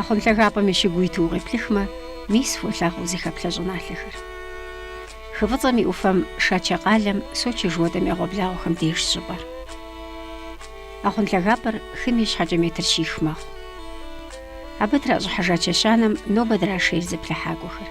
Ахъун лъагапӏэм и щыгу уиту укъеплъыхмэ, мис фолъагъу зыхэплъэ щӏыналъэхэр. Хы фӏыцӏэм и ӏуфэм Шачэ къалэм Сочи жыхуэтӏэм и ӏэгъуэблагъэхэм дежщ щӏыпӏэр. Ахъун лъагапӏэр хым и щхьэкӏэ метр щих мэхъу. Абы тращӏыхьыжа чэщанэм нобэ драшейр зыплъыхьакӏуэхэр.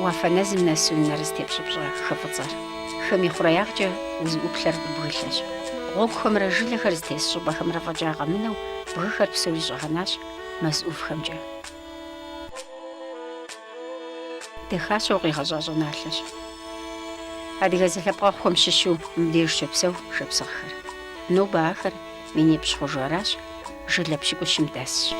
Уафэ нэзым нэсу нэр зытепщӏыпщӏэ хы фӏыцӏэр. Хым и хъуреягъкӏэ узыӏуплъэр бгылъэщ. Гъуэгухэмрэ жылэхэр зытес щӏыпӏэхэмрэ фӏэкӏа къэмынэу бгыхэр псори щӏэгъэнащ мэз ӏувхэмкӏэ. Дахащэу къигъэщӏа щӏыналъэщ. Адыгэ зэлъэпкъэгъухэм щыщу мыбдеж щопсэу шапсыгъхэр. Нобэ ахэр Минипщӏ хъужу аращ, жылэ пщыкӏущым дэсщ.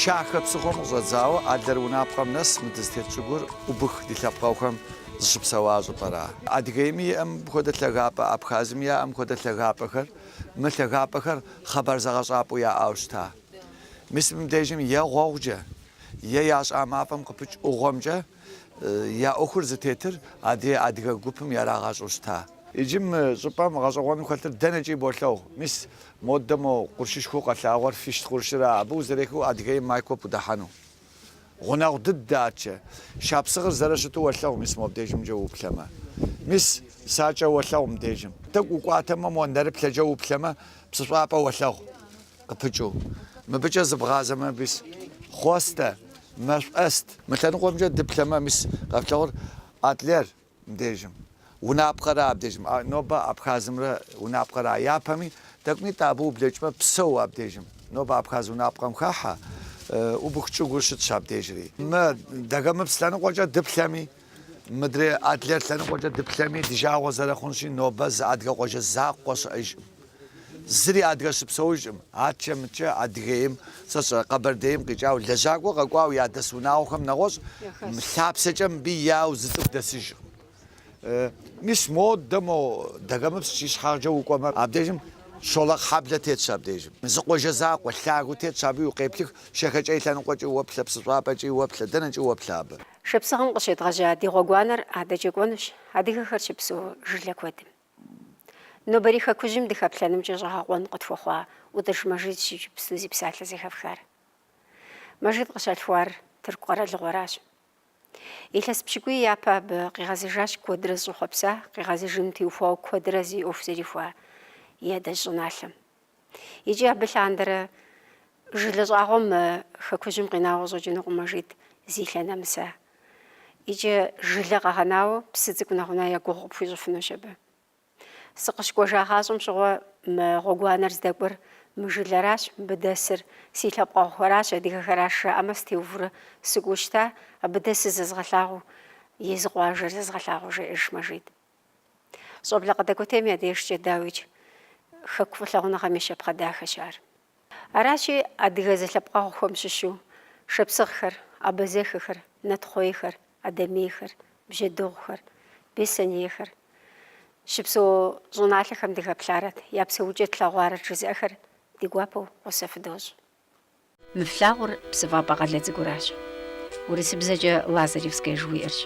Шахэ псыхъуэм къыщӏэдзауэ Адлер гъунапкъэм нэс мы дызытет щӏыгур убых ди лъэпкъэгъухэм зыщыпсэуа щӏыпӏэра? Адыгейми иӏэм хуэдэ лъагапӏэ, Абхазми яӏэм хуэдэ лъагапӏэхэр, мы лъагапӏэхэр хъэбар зэгъэщӏапӏэу яӏауэ щыта? Мис мыбдежым е гъуэгъукӏэ, е ящӏа мафӏэм къыпыкӏ ӏугъуэмкӏэ я ӏуэхур зытетыр адрей адыгэ гупым ярагъащӏэу щыта. Иджы мы щӏыпӏэм гъэщӏэгъуэну хэлъыр дэнэкӏи болъэгъу. Мис модэ мо къуршышхуэу къэлъагъуэр Фищт къуршыра, абы узэрехыу Адыгейм Майкоп удэхьэну? Гъунэгъу дыдэ атчэ. Шапсыгъыр зэрыщыту уэлъэгъу, мис мо абдежымкӏэ уплъэмэ. Мис, Шачэ уэлъэгъу мдежым. Тӏэкӏу укӏуатэмэ, мо нэрыплъэкӏэ уплъэмэ, Псыщӏапӏэ уэлъэгъу, къыпыкӏыу. Мыбыкӏэ зыбгъазэмэ, мис, Хъуэстэ, Мэшӏуэст. Мы лъэныкъуэмкӏэ дыплъэмэ, мис, къэфлъагъур Адлер, Мыбдежым гъунапкъэра абдежым? Нобэ Абхазымрэ гъунапкъэра япэми? Тӏэкӏунитӏэ абы ублэкӏмэ, Псоу абдежым. Нобэ Абхаз гъунапкъэм хахьэ, убых чӏыгур щытщ абдежри. Мы Дагэмыпс лъэныкъуэкӏэ дыплъэми, мыдрей Адлер лъэныкъуэкӏэ дыплъэми, ди жагъуэ зэрыхъунщи, нобэ зы адыгэ къуажэ закъуэ щыӏэжкъым. Зыри адыгэ щыпсэужкъым. Атчэ мытчэ Адыгейм, сэ сщӏэрэ, Къэбэрдейм къикӏауэ, лэжьакӏуэ къэкӏуауэ ядэс унагъуэхэм нэгъуэщӏ, лъапсэкӏэ мыбы яуэ зы цӏыху дэсыжкъым. Мис модэ мо Дагэмыпс ищхьагъкӏэ укӏуэмэ, абдежым Щолэхъ хьэблэ тетщ абдежым. Зы къуажэ закъуэ, лъагэу тетщ, абы иукъеплых, Шэхэкӏей лъэныкъуэкӏи уэплъэ, Псыщӏапӏэкӏи уэплъэ, дэнэкӏи уэплъэ абы. Шапсыгъым къыщедгъэжьа ди гъуэгуанэр адэкӏэ кӏуэнущ адыгэхэр щыпсэу жылэ куэдым. Нобэрей хэкужьым дыхэплъэнымкӏэ щӏэгъэкъуэн къытхуэхъуа ӏутӏыж Мэжидщ иджыпсту зи псалъэ зэхэфхар. Мэжид къыщалъхуар Тырку къэралыгъуэращ. Илъэс пщыкӏуий япэ абы къигъэзэжащ куэдрэ зыщӏэхъуэпса, къигъэзэжыну теухуауэ куэдрэ зи ӏуэху зэрихуа и адэжь щӏыналъэм. Икӏи абы лъандэрэ жылэ щӏагъуэ мы хэкужьым къинауэ щӏэкӏынукъым Мэжид зи лъэ нэмыса. Икӏи жылэ къэгъэнауэ псы цӏыкӏу нэгъунэ я гугъу къыпхуищӏыфынущ абы. Сыкъыщыкӏуэжагъащӏэм щыгъуэ мы гъуэгуанэр здэкӏуэр мы жылэращ, мыбы дэсыр си лъэпкъэгъухэращ, адыгэхэращ жаӏэмэ сытеувэурэ сыкӏуэу щыта, абы дэсыр зэзгъэлъагъуу, езы къуажэр зэзгъэлъагъуу, жеӏэж Мэжид. Щӏэблэ къыдэкӏуэтейм я дежкӏэ, дауикӏ, хэку фӏылъагъуныгъэм и щапхъэ дахэщ ар. Аращи, адыгэ зэлъэпкъэгъухэм щыщу шапсыгъхэр, абазэхэхэр, нэтхъуейхэр, адэмейхэр, бжьэдыгъухэр, бесэнейхэр, щыпсэу щӏыналъэхэм дыхэплъарэт, я псэукӏэ тлъэгъуарэт жызыӏэхэр ди гуапэу гъусэ фыдощӏ. Мы флъагъур Псыфӏапӏэ къалэ цӏыкӏуращ, урысыбзэкӏэ Лазаревское жыхуиӏэрщ.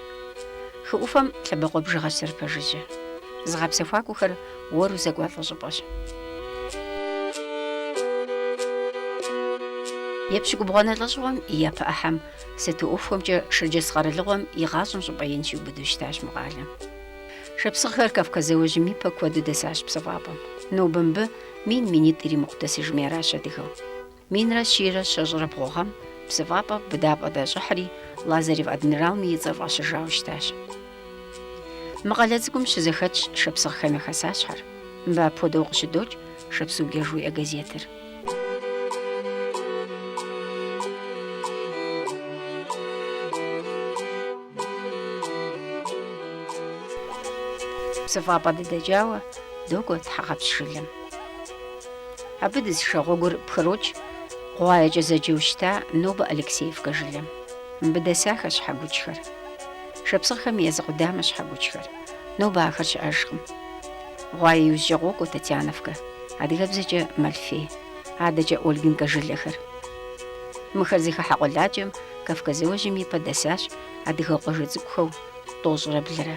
Хы ӏуфэм лъэбакъуэ бжыгъэщ зэрыпэжыжьэ. Зыгъэпсэхуакӏуэхэр уэру зэкӏуалӏэ щӏыпӏэщ. Епщыкӏубгъуанэ лӏэщӏыгъуэм и япэ ӏыхьэм сату ӏуэхухэмкӏэ Шэрджэс къэралыгъуэм и гъащӏэм щӏыпӏэ ин щиубыду щытащ мы къалэм. Шапсыгъхэр Кавказ зауэжьым ипэ куэду дэсащ Псыфӏапӏэм. Нобэ мыбы мин минитӏ иримыкъу дэсыжми аращ адыгэу. Минрэ щийрэ щэщӏрэ бгъу гъэм псыфӏапӏэ быдапӏэ дащӏыхьри, Лазарев адмиралым и цӏэр фӏащыжауэ щытащ. Мы къалэ цӏыкӏум щызэхэтщ шапсыгъхэм я хэсащхьэр. Мыбы апхуэдэу къыщыдокӏ Шапсугие жыхуиӏэ газетыр. Псыфӏапӏэ дыдэкӏауэ докӏуэ Тхьэгъэпщ жылэм. Абы дызышэ гъуэгур пхрокӏ Гъуаекӏэ зэджэу щыта нобэ Алексеевкэ жылэм. Мыбы дэсахэщ щхьэгуджхэр. Шапсыгъхэм я зы къудамэщ щхьэгуджхэр. Нобэ ахэр щыӏэжкъым. Гъуае иужькӏэ къокӏуэ Татьяновкэ, адыгэбзэкӏэ Малфей, адэкӏэ Ольгинкэ жылэхэр. Мыхэр зыхыхьэ къуэладжэм Кавказ зауэжьым ипэ дэсащ адыгэ къуажэ цӏыкӏухэу тӏощӏрэ блырэ.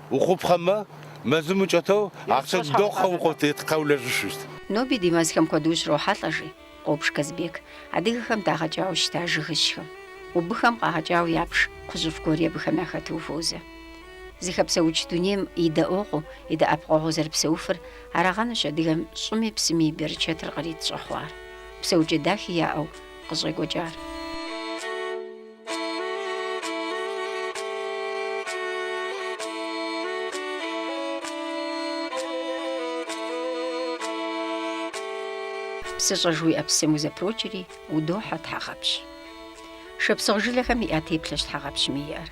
Ухъупхъэмэ, мэзым укӏэтэу ахъшэ дохъэ укъыфтетхъэ улэжьышущт. Ноби ди мэзхэм куэду ущрохьэлӏэ, жи Къобж Казбек, адыгэхэм дагъэкӏауэ щыта жыгыжьхэм. Убыххэм къагъэкӏауэ япш кхъужьыфӏ гуэри абыхэм яхэту ухуозэ. Зыхэпсэукӏ дунейм и дэӏуэгъуу, и дэӏэпыкъуэгъуу зэрыпсэуфыр арагъэнущ адыгэм щӏыми псыми и берычэтыр кърит щӏэхъуар, псэукӏэ дахи яӏэу къыщӏекӏуэкӏар. Псыщӏэ жыхуиӏэ псым узэпрокӏри, удохьэ Тхьэгъэпщ. Шапсыгъ жылэхэм яӏэ теплъэщ Тхьэгъэпщми иӏэр.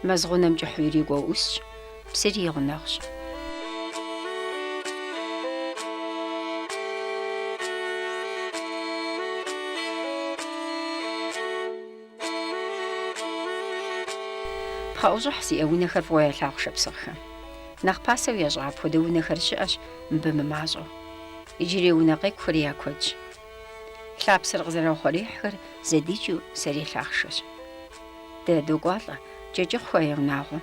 Мэз гъунэм кӏыхьу ирикӏуэу ӏусщ. Псыри и гъунэгъущ. Пхъэӏущӏыхь зиӏэ унэхэр фӏыуэ ялъагъу шапсыгъхэм. Нэхъ пасэу ящӏа апхуэдэ унэхэр щыӏэщ мыбы мымащӏэу. Иджырей унэ къекӏухэри я куэдщ. Лъапсэр къызэраухъуреихьхэр зэдикӏыу сэрей лъахъшэщ. Дэ докӏуалӏэ Кӏэкӏыхъухэ я унагъуэм.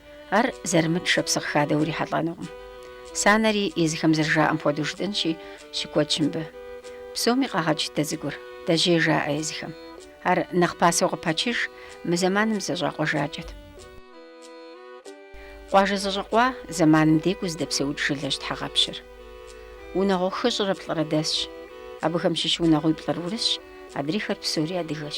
Ар зэрымыт шапсыгъ хадэ урихьэлӏэнукъым. Санэри езыхэм зэрыжаӏэм хуэдэу жытӏэнщи, щыкуэдщ мыбы. Псоми къагъэкӏ дэ цӏыкӏур, дэжьей жаӏэ езыхэм. Ар нэхъ пасэу къыпачыж, мы зэманым зэщӏакъуэжакӏэт. Къуажэ зэщӏэкъуа зэманым декӏуу зыдэпсэукӏ жылэщ Тхьэгъэпщыр. Унагъуэ хыщӏрэ плӏырэ дэсщ. Абыхэм щыщ унагъуиплӏыр урысщ, адрейхэр псори адыгэщ.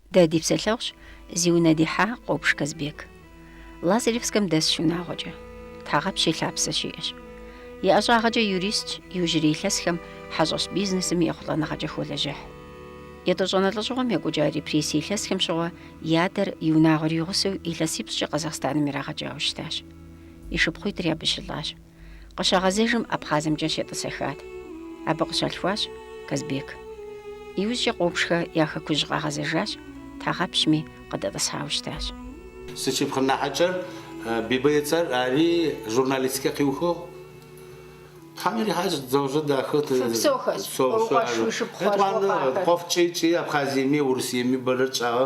Дэ ди псэлъэгъущ, зи унэ дихьа Къопш Казбек. Лазаревскэм дэсщ унагъуэкӏэ. Тхьэгъэпщ и лъапсэ щиӏэщ. И ӏэщӏагъэкӏэ юристщ, иужьрей илъэсхэм хьэщӏэщ бизнесым ехъулӏэныгъэкӏэ холэжьыхь. Етӏощӏанэ лӏэщӏыгъуэм екӏуэкӏа репрессие илъэсхэм щыгъуэ и адэр и унагъуэр игъусэу илъэсипщӏкӏэ Къэзахъстаным ирагъэкӏауэ щытащ. И шыпхъуитӏри абы щылӏащ. Къыщагъэзэжым Абхъазымкӏэ щетӏысэхат. Абы къыщалъхуащ Казбек. Иужькӏэ Къопшхэ я хэкужь къагъэзэжащ, Тхьэгъэпщми къыдэтӏысхьауэ щытащ. Сышыпхъу нахьыкӏэр Бибэ и цӏэр ари журналистикэ къиухыгъ. Тхьэм ирихьащ дзэужьэ дахэ. Псо, псо ар. Етӏуанэ къуэф кӏий-кӏий Абхъазиеми Урысиеми бэрэ тщӏагъэ.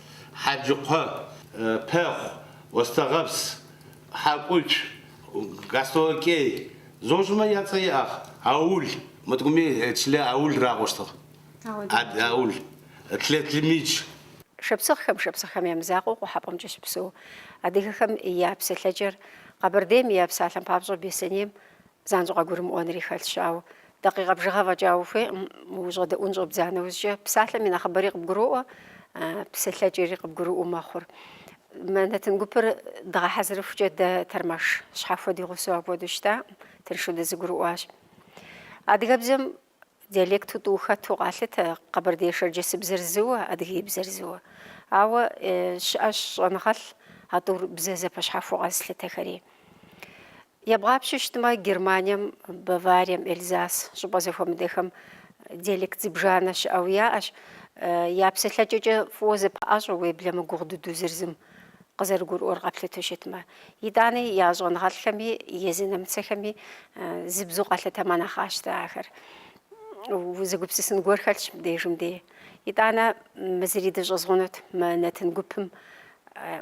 Хьэджыкъуэ, Пэхъу, Остэгъэпс, Хьэкӏуч, Гастолокей, зощӏмэ я цӏэ иӏэхъ, Аул, мы тӏкӏуми чылэ Аул ракъуэщтыгъ, Ад Аул, тлэ Тлымич. Шапсыгъхэм, шапсыгъхэм я мызакъуэу Къухьэпӏэмкӏэ щыпсэу адыгэхэм я псэлъэкӏэр, Къэбэрдейм е псалъэм папщӏэ Беслъэнейм Занщӏэу къэгурымыӏуэнри хэлъщ, ауэ дакъикъэ бжыгъэ фӏэкӏа ухуейкъым, ущӏэдэӏун щӏэбдза нэужькӏэ. Псалъэм и нэхъыбэри къыбгуроӏуэ, псэлъэкӏэри къыбгурыӏуэу мэхъур. Мы нэтын гупыр дгъэхьэзырыхукӏэ дэ тэрмэш щхьэхуэ ди гъусэу апхуэдэу щытакъым, тыншу дызэгурыӏуащ. Адыгэбзэм Диалекту тӏу хэту къалъытэ къэбэрдей-шэрджэсыбзэр зыуэ, адыгейбзэр зыуэ. Ауэ щыӏэщ щӏэныгъэлӏ а тӏур бзэ зэпэщхьэхуэу къэзылъытэхэри. Ебгъапщэу щытмэ, Германием, Баварием, Эльзас щӏыпӏэ зэхуэмыдэхэм диалект зыбжанэ щыӏэу яӏэщ. Я псэлъэкӏэкӏэ фӏыуэ зэпыӏэщӏэ уеблэмэ гугъу дыдэу зыр зым. къызэрыгурыӏуэр къэплъыту щытмэ. Итӏани я щӏэныгъэлӏхэми, езы нэмыцэхэми зы бзэу къалъытэмэ нэхъ къащтэ ахэр. Узыгупсысын гуэр хэлъщ мыбдежым дей. Итӏанэ мы зыри дыщӏэзгъунут, мы нэтын гупым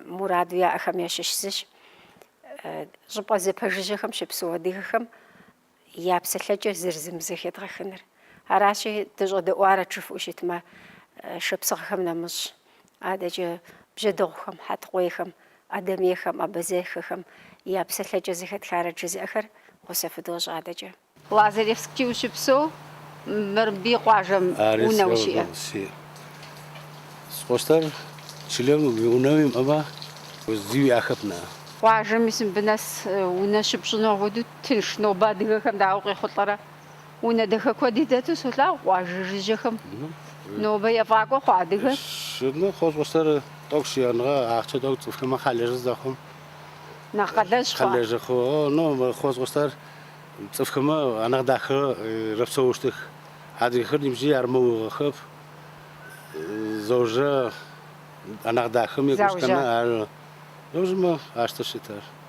мураду яӏэхэм ящыщ зыщ. Щӏыпӏэ зэпэжыжьэхэм щыпсэу адыгэхэм я псэлъэкӏэр зыр зым зэхедгъэхыныр. Аращи, дыщӏэдэӏуарэт жыфӏэу щытмэ, шапсыгъхэм нэмыщӏ, адэкӏэ бжьэдыгъухэм, хьэтыкъуейхэм, адэмейхэм, абазэхэхэм я псэлъэкӏэ зэхэтхарэт жызыӏэхэр гъусэ фыдощӏ адэкӏэ. Лазаревски ущыпсэу Мэрбий къуажэм унэ ущиӏэ? Ары сэ къыосӏощтэр, чылэм унэ уимыӏэмэ, зи уиӏэхэп нэӏэ. Къуажэми Сымбынэс унэ щыпщӏыну апхуэдэу Тынш нобэ адыгэхэм дауэ къехъулӏэрэ? Унэ дахэ куэди дэту солъагъу къуажэ жыжьэхэм. Нобэ ефӏакӏуэ хъуа адыгэр? Сыны къощӏу сэры тӏокӏу сиӏэныгъэ ахъчэ тӏокӏу цӏыфхэмэ хъалэжьы зэхъум. Нэхъ къалэжь хъуа? Хъалэжьы хъу. Ну, къощӏу сэр цӏыфхэмэ анэхъ дахэ рэпсэущтых. Адыгэхэр нибжьи армэугъэхэп. Зэужэ анэхъ дахэм екӏущтэмэ ары. Зэужэ? Зэужмэ, ащ тэ щытыр.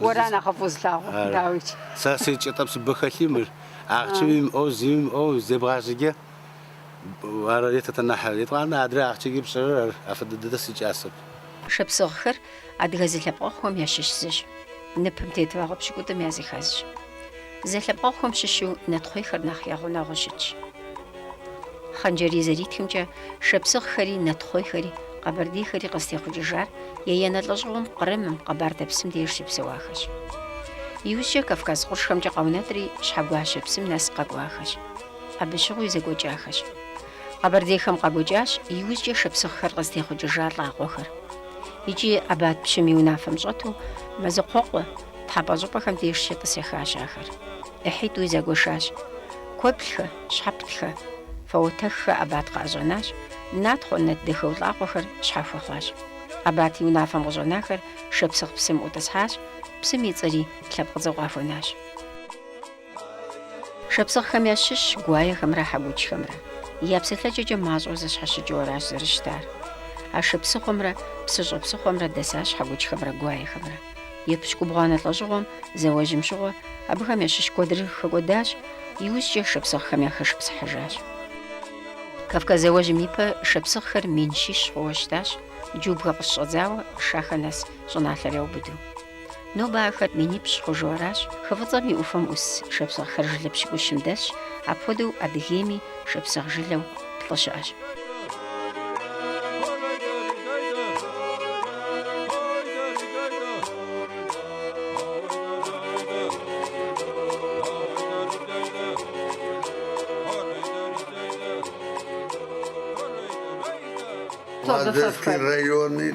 Уэра нэхъыфӏу зылъагъур, дауичи? Сэ сетчӏэтӏэ псыбэ хэлъи мыр. Ахъчи уимыӏэу, зи уимыӏэу, зебгъащӏыкӏэ. Ар етэтэ нахь. Етӏуанэ адрэ ахъчэкӏи пщӏэрэр ар афэдэ дэдэ сикӏасэп. Шапсыгъхэр адыгэ зэлъэпкъэгъухэм ящыщ зыщ. Ныпым тет вагъуэ пщыкӏутӏым я зыхэзщ. Зэлъэпкъэгъухэм щыщу нэтхъуейхэр нэхъ я гъунэгъуу щытщ. Хъан-Джэрий зэритхымкӏэ, шапсыгъхэри, нэтхъуейхэри, къэбэрдейхэри къызтехъукӏыжар еянэ лӏэщӏыгъуэм Кърымым, Къэбардэ псым деж щыпсэуахэщ. Иужькӏэ Кавказ къуршхэмкӏэ къаунэтӏри, Щхьэгуащэ псым нэс къэкӏуахэщ. Абы щыгъуи зэгуэкӏахэщ. Къэбэрдейхэм къагуэкӏащ иужькӏэ шапсыгъхэр къызтехъукӏыжа лӏакъуэхэр. Икӏи Абат пщым и унафэм щӏэту Мэзыкъуэкъуэ, Тхьэпӏэ щӏыпӏэхэм деж щетӏысэхащ ахэр. ӏыхьитӏуи зэгуэшащ. Куэблэхэ, щхьэптэхэ, фэуэтэххэ Абат къыӏэщӏэнащ, натхъуэ, нэтдахъуэ лӏакъуэхэр щхьэхуэ хъуащ. Абат и унафэм къыщӏэнахэр шапсыгъ псым ӏутӏысхьащ, псым и цӏэри лъэпкъыцӏэу къахуэнащ. Шапсыгъхэм ящыщщ гуаехэмрэ хьэкучхэмрэ. Я псэлъэкӏэкӏэ мащӏэу зэщхьэщыкӏыу аращ зэрыщытар. Ашэ псыхъуэмрэ Псыщӏэ псыхъуэмрэ дэсащ хьэкучхэмрэ гуаехэмрэ. Епщыкӏубгъуанэ лӏэщӏыгъуэм, зауэжьым щыгъуэ, абыхэм ящыщ куэдыр хэкӏуэдащ, иужькӏэ шапсыгъхэм яхэшыпсыхьыжащ. Кавказ зауэжьым ипэ шапсыгъхэр мин щищ хъууэ щытащ, Джубгэ къыщыщӏэдзауэ Шахэ нэс щӏыналъэр яубыду. Нобэ ахэр минипщӏ хъужу аращ, хы Фӏыцӏэм и ӏуфэм ӏус шапсыгъхэр жылэ пщыкӏущым дэсщ, апхуэдэу Адыгейми шапсыгъ жылэу плӏы щыӏэщ. Лазаревский райони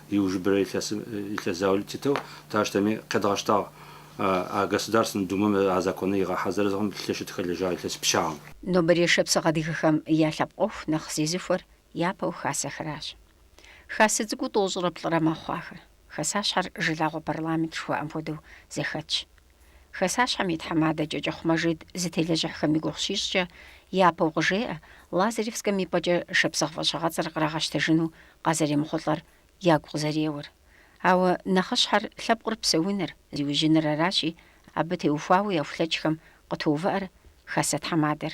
Иужырэ илъэс заулэ тытэу тащтэми къедгъэштагъ а Государственнэ Думэм а законыр игъэхьэзырыгъэм лъэшэу тыхэлэжьагъ илъэс пчъагъэм. Нобэрей шапсыгъ адыгэхэм я лъэпкъ ӏуэху нэхъ зезыхуэр япэу хасэхэращ. Хасэ цӏыкӏуу тӏощӏрэ плӏырэ мэхъу ахэр. Хасащхьэр жылагъуэ парламент жыхуаӏэм хуэдэу зэхэтщ. Хасащхьэм и тхьэмадэ Кӏэкӏыхъу Мэжид зытелэжьыхьхэм и гугъу щищӏкӏэ, япэу къыжеӏэ, Лазаревскэм и пӏэкӏэ шапсыгъ фӏэщыгъэцӏэр кърагъэщтэжыну къазэремыхъулӏэр ягу къызэреуэр. Ауэ нэхъыщхьэр лъэпкъыр псэуныр, зиужьыныр аращи, абы теухуауэ яхулъэкӏхэм къытоувыӏэр хасэ тхьэмадэр.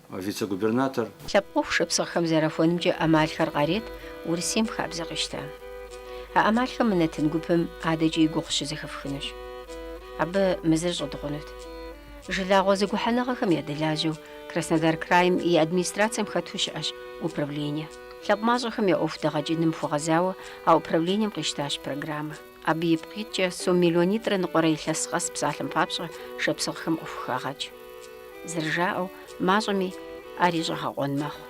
Вице-губернатор. Лъэпкъ ӏуэху шапсыгъхэм зэрахуэнымкӏэ ӏэмалхэр къарет Урысейм хабзэ къищта. А ӏэмалхэм мы нэтын гупым адэкӏи и гугъу щызэхэфхынущ. Абы мы зыр щӏыдгъунут. Жылагъуэ зэгухьэныгъэхэм ядэлажьэу Краснодар крайм и администрацэм хэту щыӏэщ управление. Лъэпкъ мащӏэхэм я ӏуэху дэгъэкӏыным хуэгъэзауэ а управлением къищтащ программэ. Абы ипкъ иткӏэ сом миллионитӏрэ ныкъуэрэ илъэс къэс псалъэм папщӏэ шапсыгъхэм къыхухагъэкӏ. Зэрыжаӏэу, мащӏэми ари щӏэгъэкъуэн мэхъу.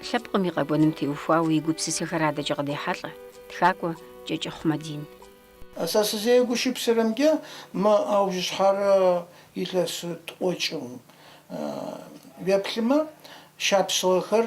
Лъэпкъым и къэкӏуэным теухуауэ и гупсысэхэр адэкӏэ къыдехьэлӏэ тхакӏуэ Кӏэкӏыхъу Мадин. Сэ сызэгушыпсырэмкӏэ, мы аужьыщхьэрэ илъэс тӏуэкӏым уеплъымэ, шапсыгъэхэр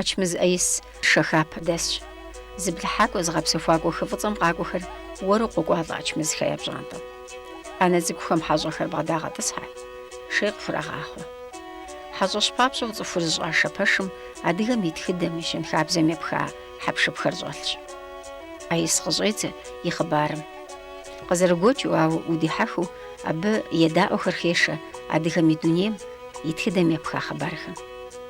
Ачмыз ӏэис Шэхапэ дэсщ. Зыплъыхьакӏуэ, зыгъэпсэхуакӏуэ хы Фӏыцӏэм къакӏуэхэр уэру къокӏуалӏэ Ачмызхэ я пщӏантӏэм. ӏэнэ цӏыкӏухэм хьэщӏэхэр бгъэдагъэтӏысхьэ, шей къыхурагъахъуэ. Хьэщӏэщ папщӏэу цӏыхур зыщӏашэ пэшым адыгэм и тхыдэм, и щэнхабзэм епха хьэпшыпхэр щӏэлъщ. ӏэис къыщӏедзэ и хъыбарым. Къызэрыгуэкӏыу, ауэ удихьэхыу абы едаӏуэхэр хешэ адыгэм и дунейм и тхыдэм епха хъыбархэм.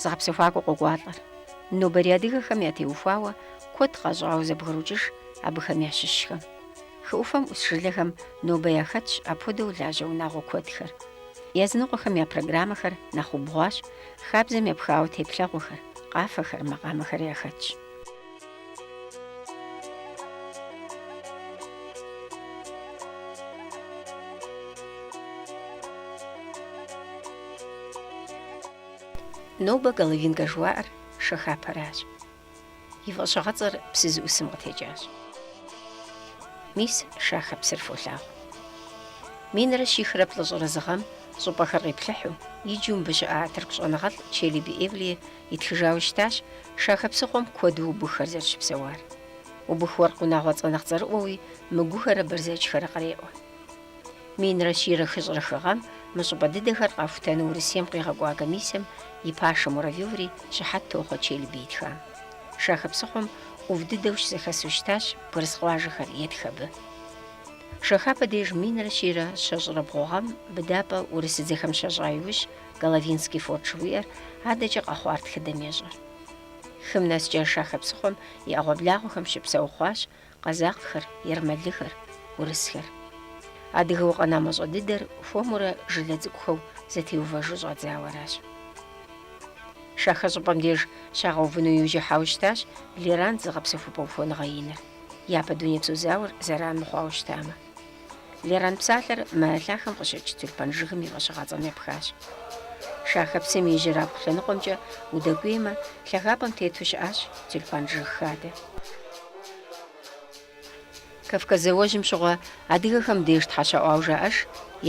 Зыгъэпсэхуакӏуэ къокӏуалӏэр. Нобэрей адыгэхэм ятеухуауэ куэд къащӏауэ зэбгрокӏыж абыхэм ящыщхэм. Хы ӏуфэм ӏус жылэхэм нобэ яхэтщ апхуэдэу лажьэ унагъуэ куэдхэр. Языныкъуэхэм я программэхэр нэхъ убгъуащ, хабзэм епхауэ теплъэгъуэхэр, къафэхэр, макъамэхэр яхэтщ. Нобэ Головинкэ жыхуаӏэр Шэхапэращ. И фӏэщыгъэцӏэр псы зыӏусым къытекӏащ. Мис Шахэ псыр фолъагъу. Минрэ щихрэ плӏыщӏрэ зы гъэм щӏыпӏэхэр къиплъыхьу, иджу мыбы щыӏа тырку щӏэныгъэлӏ Челеби Эвлие итхыжауэ щытащ Шахэ псыхъуэм куэду убыххэр зэрыщыпсэуар. Убых уэркъ унагъуэцӏэ нэхъ цӏэрыӏуэуи, Мыгухэрэ Бэрзэджхэрэ къреӏуэ. Минрэ щийрэ хыщӏрэ хы гъэм мы щӏыпӏэ дыдэхэр къахутэну Урысейм къигъэкӏуа комиссэм и пашэ Муравьеври щыхьэт тохъуэ Челеби итхам. Шахэ псыхъуэм ӏув дыдэу щызэхэсу щытащ бгырыс къуажэхэр етх абы. Шэхапэ деж минрэ щийрэ щэщӏрэ бгъу гъэм быдапӏэ урысыдзэхэм щащӏа иужь Головинский форт жыхуиӏэр адэкӏэ къэхъуар тхыдэм ещӏэр. Хым нэскӏэ Шахэ псыхъуэм и ӏэгъуэблагъуэхэм щыпсэу хъуащ Къэзакъхэр, ермэлыхэр, урысхэр. Адыгэу къэна мащӏэ дыдэр хуэмурэ жылэ цӏыкӏухэу зэтеувэжу щӏадзауэ аращ. Шахэ щӏыпӏэм деж щагъэувыну иужь ихьауэ щытащ Леран зыгъэпсэхупӏэ ухуэныгъэ иныр, япэ дунейпсо зауэр зэран мыхъуауэ щытамэ. Леран псалъэр мы лъахэм къыщыкӏ тюльпан жыгым и фӏэщыгъэцӏэм епхащ. Шахэ псым ижьырабгъу лъэныкъуэмкӏэ удэкӏуеймэ, лъагапӏэм тету щыӏащ тюльпан жыг хадэ. Кавказ зауэжьым щыгъуэ адыгэхэм деж тхьэ щаӏуауэ жаӏэж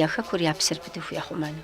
я хэкур я псэр пытыху яхъумэну.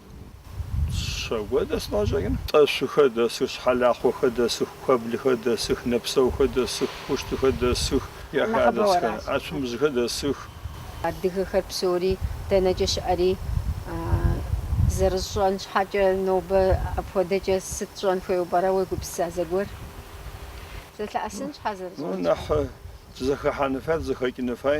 Щэкӏуэ дэс къащӏэкӏын. Тӏэщухэ дэсых, Щхьэлахъуэхэ дэсых, Куэблхэ дэсых, Нэпсэухэ дэсых, Хущтыхэ дэсых, яхадэсхэ, Ацумыжьхэ дэсых. Адыгэхэр псори дэнэкӏэ щыӏэри зэрыщӏэн щхьэкӏэ нобэ апхуэдэкӏэ сыт щӏэн хуейуэ пӏэрэ уегупсыса зэгуэр? Зэлъэӏэсын щхьэ зэрыщӏэн щхьэкӏэ. Нэхъ зэхэхьэны фай, зэхэкӏыны фай